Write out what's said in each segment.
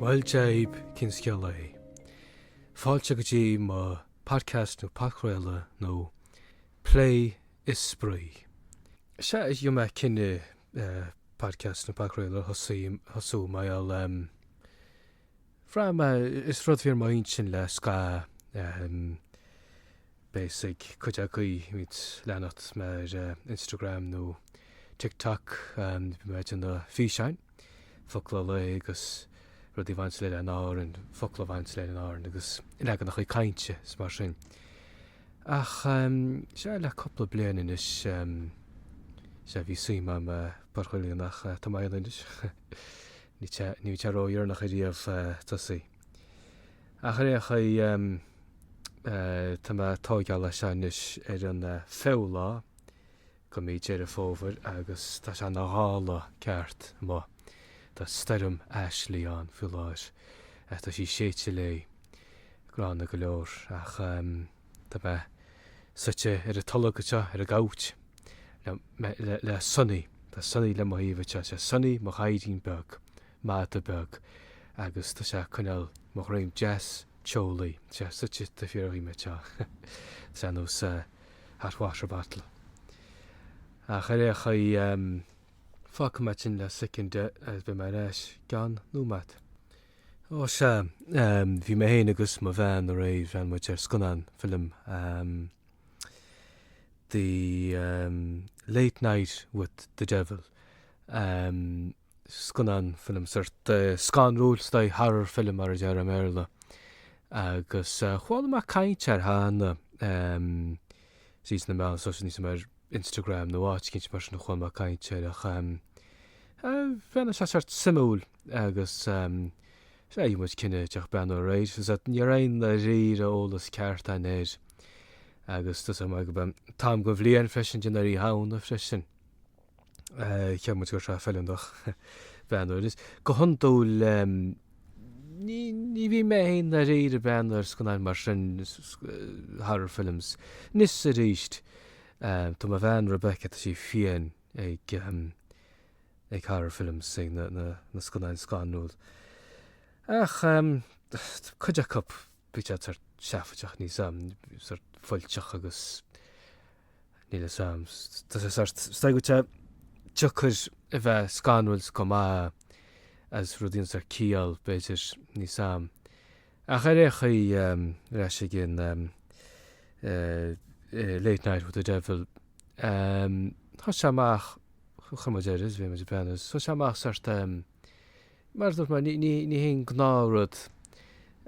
Bhuel, Dia daoibh, cén scéal é? Fáilte go dtí mo Podcast nó Podchraoladh nua Plé is Spraoi. Sea, rinne mé cinneadh Podcast nó Podchraoladh a thosú mar gheall em. Bhraith mé, is rud a bhí ar m'intinn le scaitheamh. beidh a fhios ag cuid agaí a bhíonn ag leanacht mé ar Instagram nó TikTok, bíonn mé ag déanamh físeáin, focal an lae agus rudaí a bhaint le hÁrainn, focla a bhaint le hÁrainn agus leaganachaí cainte is mar sin. Ach, sea, le cupla bliain anois, sea, bhí suim agam i bpodchraoladh ach tá mé ann anois. Níl sé ródheireanach ariamh tosaí. Ach ar aon chaoi, tá mé ag tóigeáil é seo anois ar an fichiú lá de mhí Dheireadh Fómhair agus tá sé ina ghála ceart amuigh. Tá stoirm Ashley ann faoi láthair ach tá sí ag séideadh léi, gránna go leor, ach tá mé suite ar an tolg anseo ar an gcouch le Sonny. Tá Sonny le mo thaobh anseo. Sé Sonny mo ghadhairín beag. mada beag agus tá sé ag coinneáil mo dhroim deas teolaí, tá sé suite taobh thiar dhíom, tá sé ar nós hot water bottle. Ach ar aon chaoi, fágfaidh mé sin le soicind agus beidh mé ar ais i gceann nóiméad. Ó sea, bhí mé féin agus mo bhean aréir, bhreathnaigh muid ar scannán, film, The Late Night with the Devil. scannán, film, sort scanrúil, is dóigh, horror film mar a déarfá i mBéarla. Agus chuala mé caint air cheana, em, sea, sna meáin sóisialta níl a fhios agam ar Instagram nó áit éicint mar sin a chuala mé caint air ach em, bhreathnaigh sé sort suimiúil agus em, sea, dhein muid cinneadh breathnú air aréir agus ní raibh aon i ndáiríre eolas ceart agam air. Agus tá a fhios agat, mar gurb é an t-am den bhliain freisin ag déanamh ar Oíche Shamhna freisin. Cheap muid go raibh sé feiliúnach breathnú air. Is go hiondúil ní bhíonn mé féin dáiríre ag breathnú ar scannáin mar sin, horror films. Anois is aríst, tá mo bhean Rebecca, tá sí fiáin ag horror films, ag na scannáin scanrúil. Ach tá cuid acu, bíonn siad sórt seafóideach, níl a fhios agam, sórt fuilteach agus. Níl fhios a'm. Tá sé sort, stags atá, tá sé deacair a bheith scanrúil go maith is rudaí an sort ciall, b'fhéidir, níl 's a'm. Ach ar ao' chaoi, ar ais ag an eh Late Night with the Devil, em thosaigh sé amach, chuir muid air is bhí muid ag breathnú is thosaigh sé amach sort em, mar a dúirt mé, ní, ní haon gnáth rud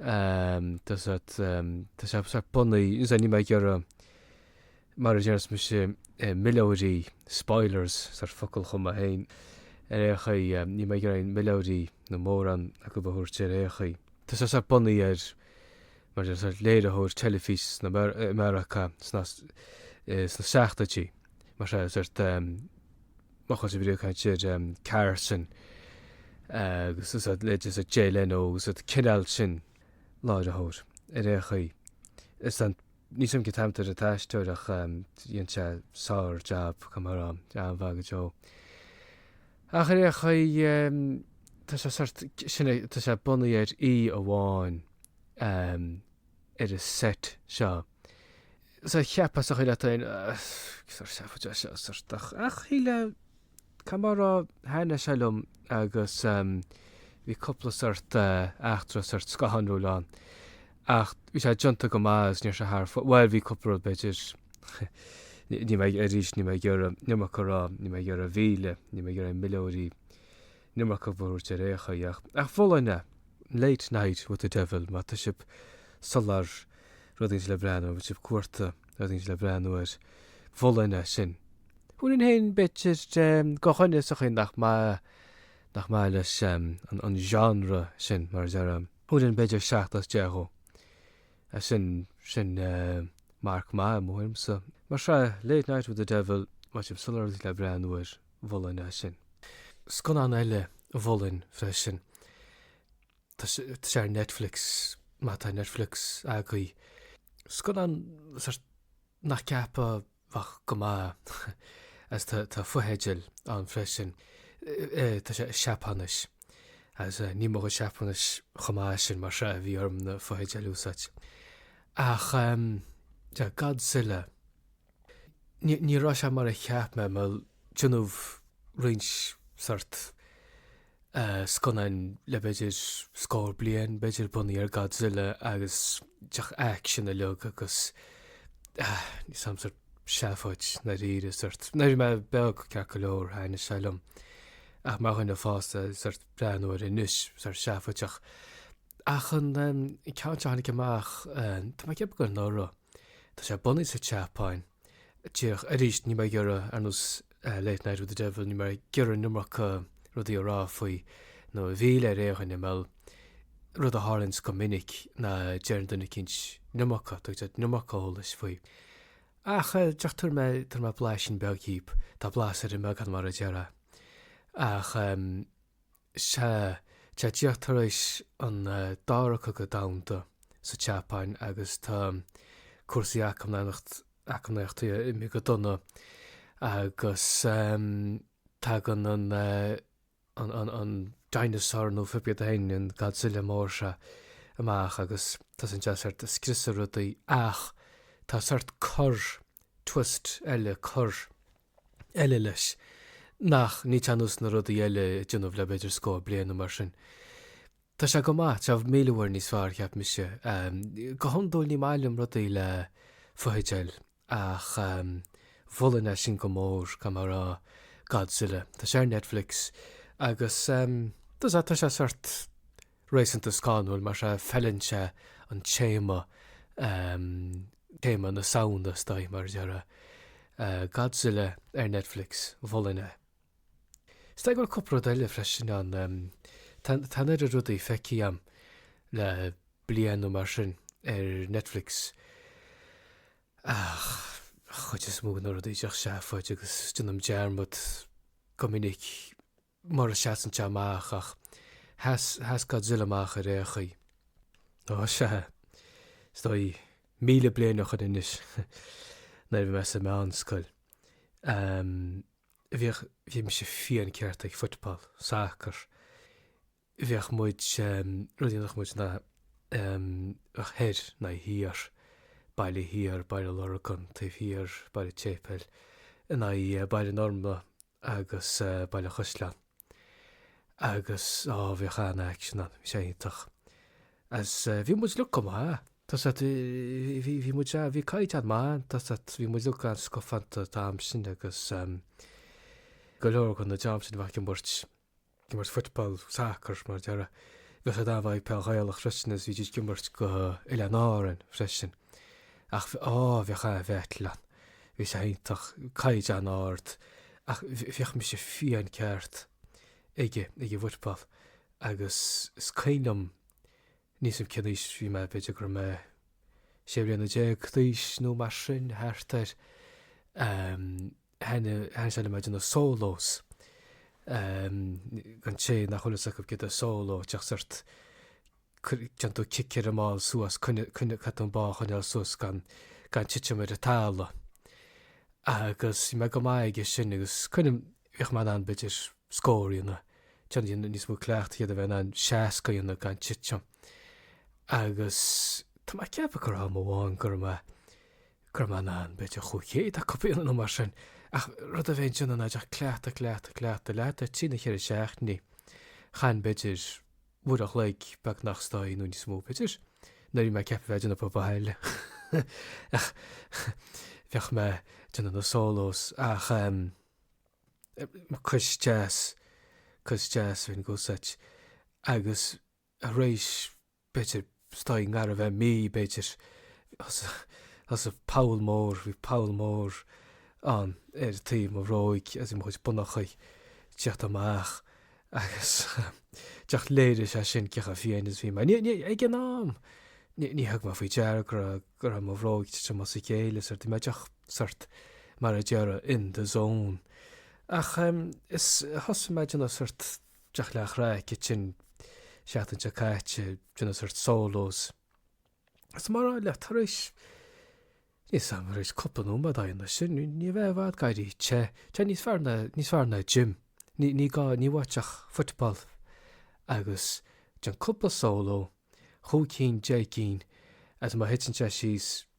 em, tá sort em, tá sé sort bunaithe, níl mé ag iarraidh, mar a déarfainn mise, milleoirí, spoilers, sort focal a chum mé féin, ar aon chaoi, níl mé ag iarraidh aon mhilleoirí nó mórán acu a thabhairt ar aon chaoi. Tá sé sort bunaithe ar, mar a déarfá, ar láithreoir teilifíse sna, i Meiriceá sna, sna seachtóidí, mar seo, sort, má tá sibh ag caint ar Carson agus sort, ar Jay Leno agus ar an cineál sin láithreoir ar aon chaoi. Is an Níl 's a'm cén t-ainm atá ar an aisteoir ach rinne sé sár jab chomh maith ann, an-mhaith go deo. Ach ar aon chaoi tá sé sort, sin é, tá sé bunaithe ar oíche amháin ar an set seo. So cheapfá sa chaoi leat féin, sort seafóid é seo, sort, ach shíleann. Cad mar a thaithnigh sé liom agus bhí cúpla sort eachtra, sort scoth scanrúil ann ach bhí sé déanta go maith agus ní raibh sé thar fóir, bhuel bhí cúpla rud b'fhéidir, níl mé, arís níl mé ag iarraidh iomarca a rá, níl mé ag iarraidh a mhilleadh, níl mé ag iarraidh aon mhilleoirí, an iomarca a thabhairt ar aon chaoi ach, ach mholfainn é! Late Night with the Devil má tá sibh ag soláthar, rud éigin le breathnú, má tá sibh ag cuartú? Rud éicint le breathnú air mholfainn é sin. Fiú amháin b'fhéidir do dhuine sa chaoi nach maith, nach maith leis an genre sin, mar a deir. Thabharfainn b'fhéidir seacht as deich dhó. Sin, sin marc maith, i mo thuairimse. Mar seo, Late Night with the Devil, má tá sibh ag soláthar le breathnú air mholfainn é sin. Scannán eile a mholfainn freisin. Tá sé ar Netflix, má tá Netflix agaibh. Scannán nach gceapfá a bheadh go maith is tá fotheidil ann freisin. Tá sé i Seapáinis agus níl mo Sheapáinis chomh maith sin mar seo bhí orm na fotheidil a úsáid. Ach Godzilla Ní raibh sé mar a cheap mé, mar déanadh roinnt sort scannáin le b'fhéidir scór bliain, b'fhéidir, bunaithe ar Godzilla agus iad uilig sórt lag agus níl 's a'm sort seafóid dáiríre sort. Nuair a bhí mé beag ceart go leor, thaithnigh siad liom, ach mar dhuine fásta, sort breathnú air anois, sort seafóideach. Ach an ceann seo a tháinig amach, tá mé ag ceapadh gur anuraidh, tá sé bunaithe sa tSeapáin. Díreach, arís, níl mé ag iarraidh, ar nós Late Night with the Devil, níl mé ag iarraidh an iomarca rudaí a rá faoi, nó a mhilleadh ar aon duine, mar rud a tharlaíonns go minic ná deireann duine eicínt an iomarca, tugann siad an iomarca eolais faoi. Ach, díreach tabharfaidh mé, tabharfaidh mé blaisín beag dhaoibh, tá blas ar an mbeagán mar a déarfá. Ach. Sea, tá díreach tar éis an Dara Cogadh Domhanda sa tSeapáin agus tá cúrsaí eacnamaíochta ag imeacht go dona agus tagann an, an, an, an dinosaur nó cibé céard é féin, an Godzilla mór seo amach agus tosaíonn sé sórt ag scriosadh rudaí ach tá sórt cor, twist eile, cor. eile leis. Nach níl sé ar nós na rudaí eile a déanadh le b'fhéidir scór bliain nó mar sin. Tá sé go maith, tá míle uair níos fearr, cheap mise. Go hiondúil ní maith liom rudaí le fotheideil ach mholfainn é sin go mór, go mór Godzilla. Tá sé ar Netflix agus, tá sé, tá sé sórt réasúnta scanrúil mar seo, feileann sé an téama, téama na Samhna, is dóigh, mar a déarfá, Godzilla ar Netflix, mholfainn é. Is dóigh go bhfuil cúpla rud eile freisin ann, tá, tá an oiread rudaí feicthe agam le bliain nó mar sin ar Netflix ach an chuid is mó de na rudaí díreach seafóid agus déanaim dearmad go minic, mura seasann sé amach, ach sheas, sheas Godzilla amach ar aon chaoi. Ó, sea, is dóigh, míle bliain ó shoin anois, nuair a bhí mé sa mheánscoil, ehm, bhíodh, bhí mise fiáin ceart ag football, soccer, bhíodh muid, ehm, rud a dhéanadh muid ná, ehm, bheadh thoir in aghaidh thiar, Baile Thiar, Baile an Lurgain, taobh thiar, Baile an tSéipéil, in aghaidh Baile an Fhormna, agus Baile an Chaisleáin agus á bhíodh an-aicsean ann, bhí sé iontach agus bhí muid uilig go maith, tá a fhios agat, bhí, bhí muid, bhí caighdeán maith ann, tá a fhios agat, bhí muid uilig an-scafánta an t-am sin agus go leor de na dream sin bhíodh ag imirt. imirt football, soccer, mar a déarfá. Bhíodh siad an-mhaith ag peil Ghaelach freisin agus bhídís ag imirt do Oileáin Árann freisin. Ach, á, bhíodh an-bhattle ann. Bhí sé iontach. Caighdeán ard. Ach bhíodh mise fiáin ceart ag, ag football agus is cuimhin liom níl a fhios agam cén aois bhí mé, b'fhéidir go raibh mé sé bliana déag d'aois nó mar sin, thart air. thaitnigh sé liom a dhéanamh sólós, an té nach bhfuil fhios acu céard é sóló, díreach sórt, déann tú cic ar an mball suas, coinneáil, caithfidh tú an ball a choinneáil suas gan, gan titim ar an talamh. Agus bhí mé go maith aige sin agus cuimhním, bhíodh mé in ann b'fhéidir scór a dhéanamh, déanamh, dhéanamh níos mó cleachtaidh, d'fhéadfá a bheith in ann seasca a dhéanamh gan titim. Agus tá mé ag ceapadh gur am amháin go raibh mé, Go raibh mé in ann, b'fhéidir dhá chéad a copy nó mar sin. Ach rud amháin, ní dhéanainn ach cleachta cleachta cleachta cleachtadh trí nó ceithre seachtaine. Chaithinn b'fhéidir uair a chloig beagnach is dóigh nó níos mó b'fhéidir? Nuair a bhí mé ceaptha bheith déanamh obair bhaile ach bheadh mé ag déanamh na sólós ach em cois deas cois deas an gcónaí ach agus arís b'fhéidir, is dóigh i ngar a bheith mí, b'fhéidir. Thosaigh poll mór, bhí poll mór ann ar taobh mo bhróig as mo chuid bonnachaí ag tíocht amach agus díreach léiríonn sé sin cé chomh fiáin is bhí mé. Ní, ní, ag an am ní thug mé faoi deara go raibh, go raibh mo bhróig ag titim as a chéile is bhí mé díreach sórt, mar a déarfá, in the zone. Ach is thosaigh mé ag déanamh sórt. díreach le haghaidh craic, an, seachtain seo caite, déanamh sórt sólós. Is mar, le, tar éis, níl 's agam, tar éis cúpla nóiméad, ag déanamh sin, ní bheifeá i bhfad ag éirí te, tá sé níos fearr ná, níos fearr ná gym, ní, ní bheadh uait ach football agus déan cúpla sóló, chúig cinn, deich gcinn, agus má thiteann sé síos,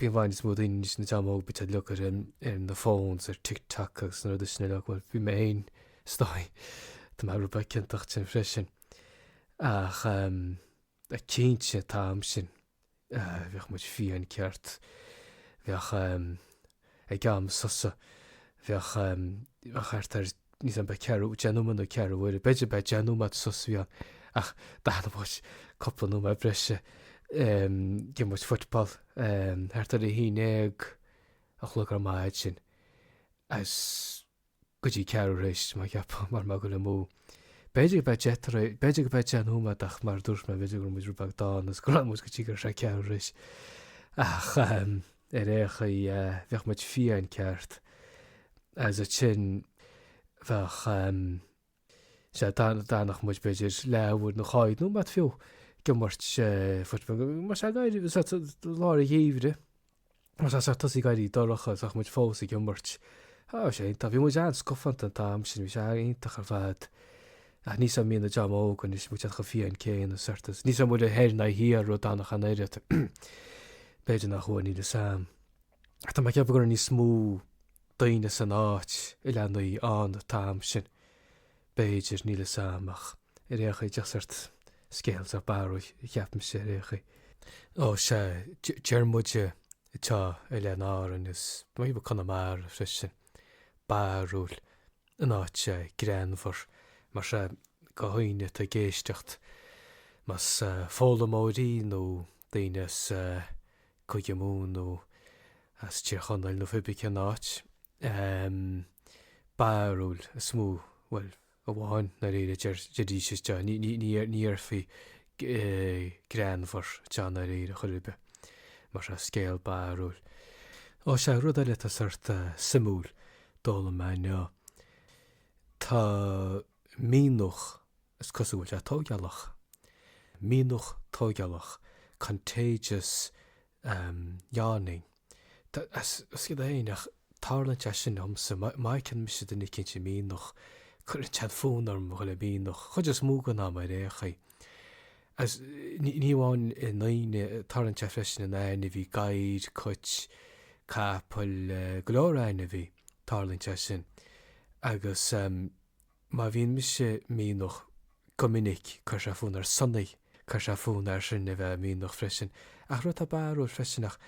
Bíonn, bíonn níos mó anois na leaids óga, bíd ag luc ar na phones, ar TikTok agus na rudaí sin uilig, bhuel, bhí mé féin, is dóigh, tá mé rud beag ciontach ansin freisin, ach ehm, cinnte, an t-am sin, bheadh muid fiáin ceart, bheadh ehm, ag am sosa, bheadh ehm, bheadh thart ar, níl ann ach ceithre, deich nóiméad nó ceathrú uaire, b'fhéidir, b'fhéidir deich nóiméad sos a bhí ann ach d'fhanadh muid cúpla nóiméad breise. D'imir muid football thart ar a haon déag a chlog ar maidin ansin agus go dtí ceathrú tar éis, má cheapann, mar bheadh, go raibh muid, b'fhéidir go mbeadh deich tar éis, b'fhéidir go mbeadh deich nóiméad ach mar a dúirt mé, b'fhéidir go raibh muid rud beag dána agus go raibh muid go dtí gur sé ceathrú tar éis ach. Ar aon chaoi, bheadh muid fiáin ceart agus ansin bheadh, sea, d'fhanfadh muid b'fhéidir leathuair nó dhá fhichead nóiméad fiú ag imirt football, mar sea, lár an gheimhridh, mar sea, tosaí ag éirí dorcha, bheadh muid fós ag imirt. Sea, bhí sé iontach, bhí muid an-scafánta an t-am sin, bhí sé iontach ar fad. Ach níl a fhios agam an mbíonn an dream óg anois muid ach an phian céanna, sort, níl a fhios agam an bhfuil thoir ná thiar, ródhána ach an oiread, b'fhéidir nach bhfuil, níl a fhios agam, ach tá mé ag ceapadh go raibh níos mó daoine san áit is leanaí an t-am sin, b'fhéidir, níl a fhios agam ach ar aon chaoi, díreach sort scéal sách barrúil, cheapaimse, ar aon chaoi. Ó, sea, deir muide anseo, bhuel in Árainn, is maybe Conamara freisin. barrúil in áit greannmhar, mar sea, gach aoinne atá ag éisteacht, más foghlaimeoirí nó daoine as Cúige Mumhan nó as Tír Chonaill nó pé ar bith cén áit, barrúil is mó, bhuel, amháin i ndáiríre a déarfaí anseo, ní déarfaí greannmhar anseo i ndáiríre chor ar bith, mar sea, scéal barrúil. Ó sea, rud eile atá sort ah suimiúil, d'fhoghlaim mé inniu. Tá méanfach, is cosúil go bhfuil sé tógálach, méanfach tógálach, contagious yawning. Is cuma é, nach dtarlaíonn sé sin liomsa, má fheiceann mise duine eicínt ag méanfach, cuireann sé fonn orm a dhul ag méanfach, chuid is mó den am, ar aon chaoi. Agus ní amháin i ndaoine, tarlaíonn sé freisin in ainmhí, gadhair, cuit, capaill, go leor ainmhí, tarlaíonn sé sin. Agus. Má bhíonn mise ag méanfach go minic, cuireann sé fonn ar Sonny, cuireann sé fonn air sin a bheith ag méanfach freisin. Ach rud atá barrúil freisin ach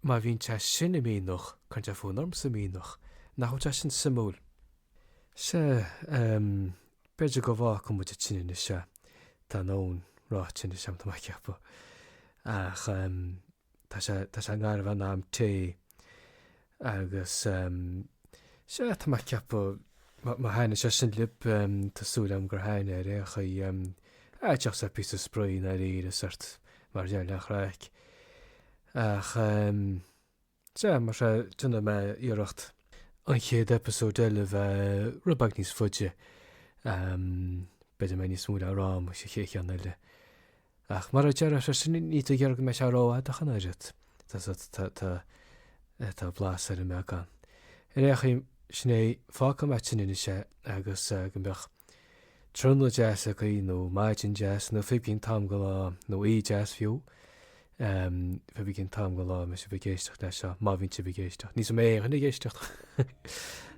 má bhíonn sé sin ag méanfach, cuireann sé fonn ormsa méanfach. Nach bhfuil sé sin suimiúil? Sea, b'fhéidir go bhfágfaidh muid ansin anois é, tá a ndóthain ráite anois agam, tá mé ag ceapadh. Ach. Tá sé, tá sé i ngar dhon am tae agus ehm, sea, tá mé a' ceapadh má, má thaitnigh sé sin libh ehm, tá súil agam gur thaitnigh ar aon chaoi ehm, díreach sort píosa spraoi i ndáiríre, sort mar gheall ar an chraic. Ach ehm, sea, mar sea, déanfaidh mé iarracht an chéad episode eile bheith rud beag níos faide ehm, b'fhéidir go mbeidh níos mó le rá agam sa chéad cheann eile. Ach mar a deir freisin, ní do dhearga mé seo rófhadach an oiread, tá blas ar an mbeagán. Ar é a chím, sin é, fágfaidh mé tinn anois é agus go mbeadh trionadh deas againn, nó maidin deas, nó phibginn tam go lá, nó aoí deas fiú, phibginn tam go lá, mise ag éisteacht leis seo, má bhíonn sibh ag éisteacht, ní sa mé éigin ag éisteacht!